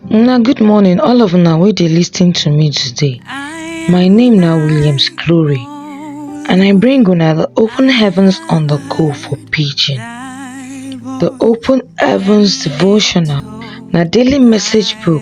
Una good morning all of una wey dey lis ten to me today. My name na Williams Glory and I bring una the open heavens on the go for pidgin. The open heavens devotional na daily message book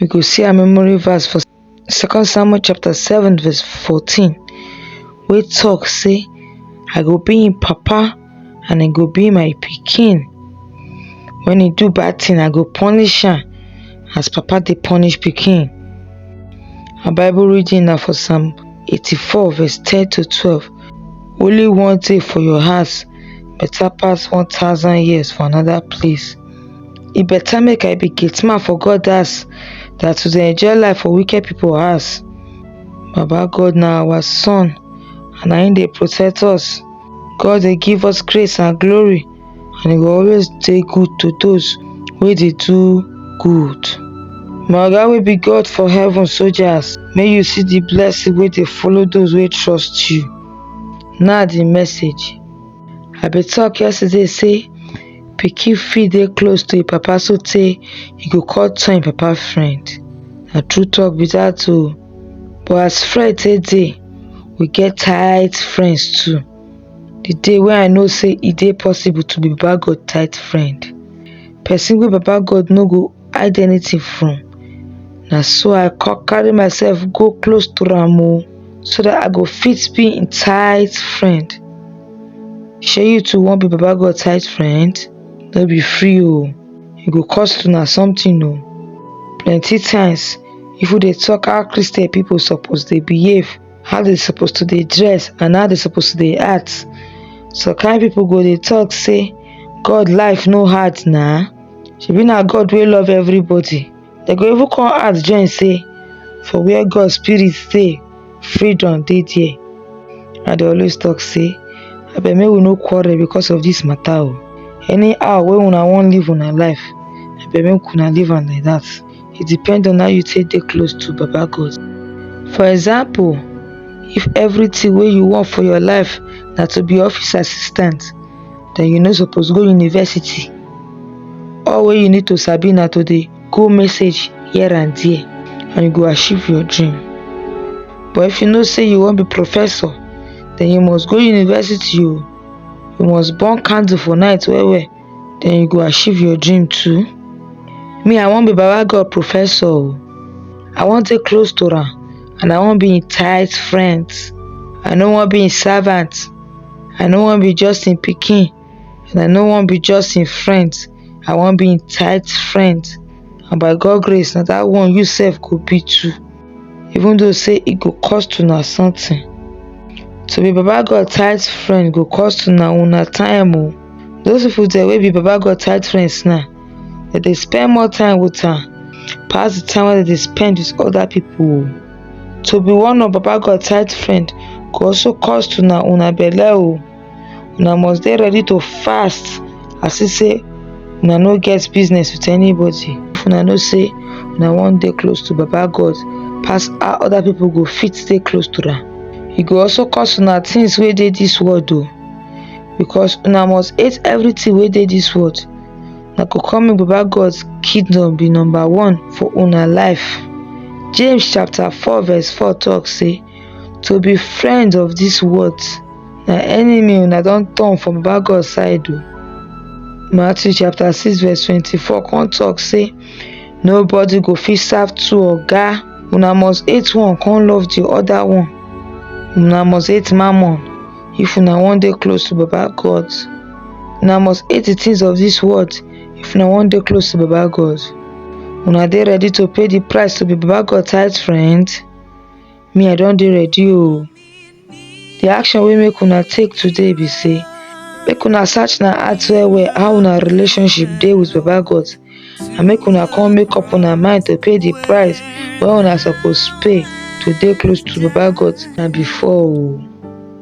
we go see our memory verse for second samuel chapter 7 verse 14 We talk say i go be him papa and he go be my pikin when he do bad thing i go punish him as papa they punish pikin our bible reading now for psalm 84 verse 10 to 12 only one day for your house better pass 1000 years for another place E better make I be gate man for God house than to dey enjoy life for wicked people house. Baba God na our son and na him dey protect us. God dey give us grace and glory and he go always dey good to those wey dey do good. My oga wey be God for heaven soldiers, make you see the blessing wey dey follow those wey trust you. Na the message. I be talk yesterday say Pikin fit dey close to im papa so tey e go come turn im papa friend na true talk be dat oh but as friend take dey we get tight friends too di day wey I know sey e dey possible to be baba God tight friend person wey baba God no go hide anything from na so i come carry myself go close to am o so that i go fit be him tight friend shey you too wan be baba god tight friend no be free o e go cost una something o plenty times if we dey talk how christian people suppose dey behave how they suppose to dey dress and how they suppose to dey act some kind people go dey talk say god life no hard na shebi na god wey love everybody they go even come add join say for where god spirit dey freedom dey there i dey always talk say abeg make we no quarrel because of this matter o anyhow wey una wan live una life abeg make una live am like that e depend on how you take dey close to baba God. For example, if everything wey you want for your life na to be office assistant, then you no suppose go university. All wey you need to sabi na to dey go message here and there and you go achieve your dream. But if you know say you wan be professor, then you must go university o. You must burn candle for night well well then you go achieve your dream too me i wan be baba god professor o i wan dey close to am and i wan be im tight friend i no wan be im servant i no wan be just im pikin and i no wan be just im friend i wan be im tight friend and by god grace na that one you sef go be too even though say e go cost una something. To be Baba God tight friend go cost una una time o. Those people there wey be Baba God tight friends now, they dey spend more time with am pass the time wey they dey spend with other people o. To be one of Baba God tight friend go also cost una una belle o. una must dey ready to fast as if say una no get business with anybody if una know say una wan dey close to baba god pass how other people go fit stay close to am e go also cause una things wey dey this world o because una must hate everything wey dey this world na go come make baba god kingdom be number one for una life james chapter four verse four talk say to be friends of this world na enemy una don turn from baba God side o. Matthew chapter 6 verse 24 come talk say nobody go fit serve two oga una must hate one come love the other one una must hate mammon if una wan dey close to baba God una must hate the things of this world if una wan dey close to baba God una dey ready to pay the price to be baba God tight friend me i don dey ready oo the action wey make una take today be say make una search na heart well well how una relationship dey with baba god and make una come make up una mind to pay the price wey una suppose pay to dey close to baba god na before oo